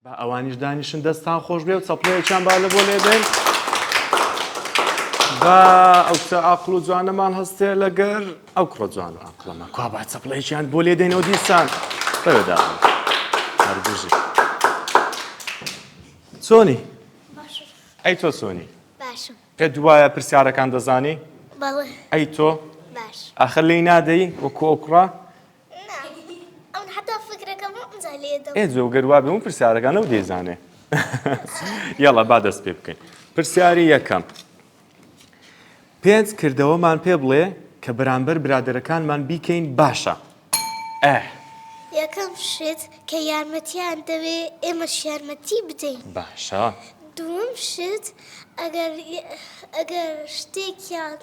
با ئەوانیش دانیشن دەستان خۆش بێ و چەپڵەیەکیان با لە بۆ لێدەین با ئەو کچە ئاقڵ و جوانەمان هەستێ لەگەر ئەو کوڕە جوان و ئاقڵەمە کوا با چەپڵەیەکیان بۆ لێدەینەوە دیسان بەوێدا هەربژی چۆنی باشە ئەی تۆ چۆنی باشم پێ دوایە پرسیارەکان دەزانی بەڵێ ئەی تۆ باش ئاخر لێی نادەی وەکو ئەو کوڕە ئێ جۆ گەر وابێ من پرسیارەکان ئەو دەیزانێ یەڵا با دەست پێ بکەین پرسیاری یەکەم پێنج کردەوەمان پێ بڵێ کە بەرامبەر برادەرەکانمان بیکەین باشە ئە یەکەم شت کە یارمەتیان دەوێ ئێمەش یارمەتی بدەین باشە دووەم شت ئەگەر ئەگەر شتێکیان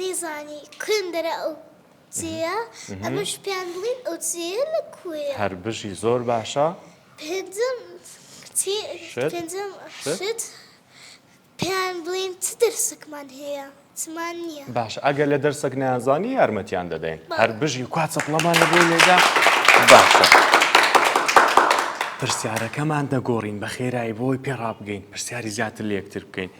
نەیزانی کوێم دەرا ئەو چێیە ئەمەش پێیان بڵین ئەو چێیە لە کوێیە. هەر بژی زۆر باشە. پێنجەم چی پێنجەم شت پێیان بڵین چ دەرسەکمان هەیە چمان نییە. باشە ئەگەر لە دەرسەک نەیانزانی یارمەتیان دەدەین هەر بژی کوا چەپڵەمان لە بۆی لێدا باشە. پرسیارەکەمان دەگۆڕین بە خێرایی بۆی پێ ڕابگەین پرسیاری زیاتر لە یەکتر بکەین.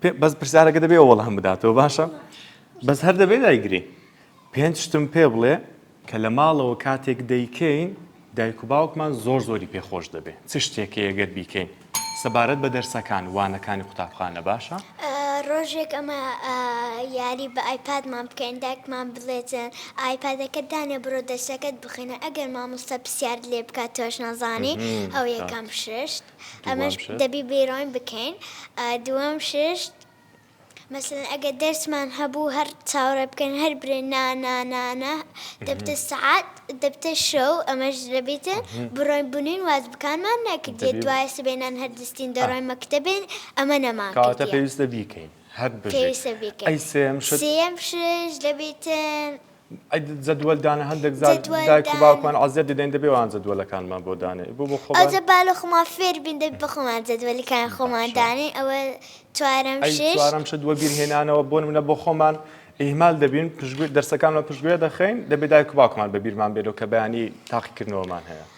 پێ بەس پرسیارەکە دەبێ وەڵام بداتەوە باشە بەس هەر دەبێ دایگری پێنج شتم پێ بڵێ کە لە ماڵەوە کاتێک دەیکەین دایک و باوکمان زۆر زۆری پێخۆش دەبێ چ شتێکی ئەگەر بیکەین سەبارەت بە دەرسەکان وانەکانی قوتابخانە باشە؟ ڕۆژێک ئەمە یاری بە ئایپادمان بکەین داکمان بڵێتن ئایپادەکە دانێ بڕۆ دەرسەکەت بخینە ئەگەر مامۆستا پرسیار لێ بکات تۆش نازانی ئەو یەکەم ششت. ئەمەش دەبی بیرۆین بکەین دووەم شت مەسەلەن ئەگەر دەرسمان هەبوو هەر چاوەڕێ بکەین هەر برێ نا نا نا نا دەبتە سەعات دەبتە شەو ئەمەش دەبیتە بڕۆین بنین واز بکانمان نەکردێت دوای سبێنان هەر دەستین دەڕۆین مەکتەبێن ئەمە نەمان کاتە پێویستە بیکەین هەر بژیت پێویستە بیکەین. ئەی سێم شت سێم شت دەبیتن جەدوەل دانە هەندێک جار جەدوەل دایک و دانە. باوکمان عەزێت دەدەین دەبێ وان جەدوەلەکانمان بۆ دانێ بۆ بۆ خۆمان ئەوجە بالە خۆمان فێر بین دەبی بە خۆمان جەدوەلەکان خۆمان باشە. دانێ ئەوە چوارەم ئەی ششت چوارەم شت وەبیر هێنانەوە بۆ نمونە بۆ خۆمان ئیهمال دەبین پشتگوێ دەرسەکانمان پشتگوێ دەخەین دەبێ دایک و باوکمان بە بیرمان بێنەوە کە بەیانی تاقیکردنەوەمان هەیە.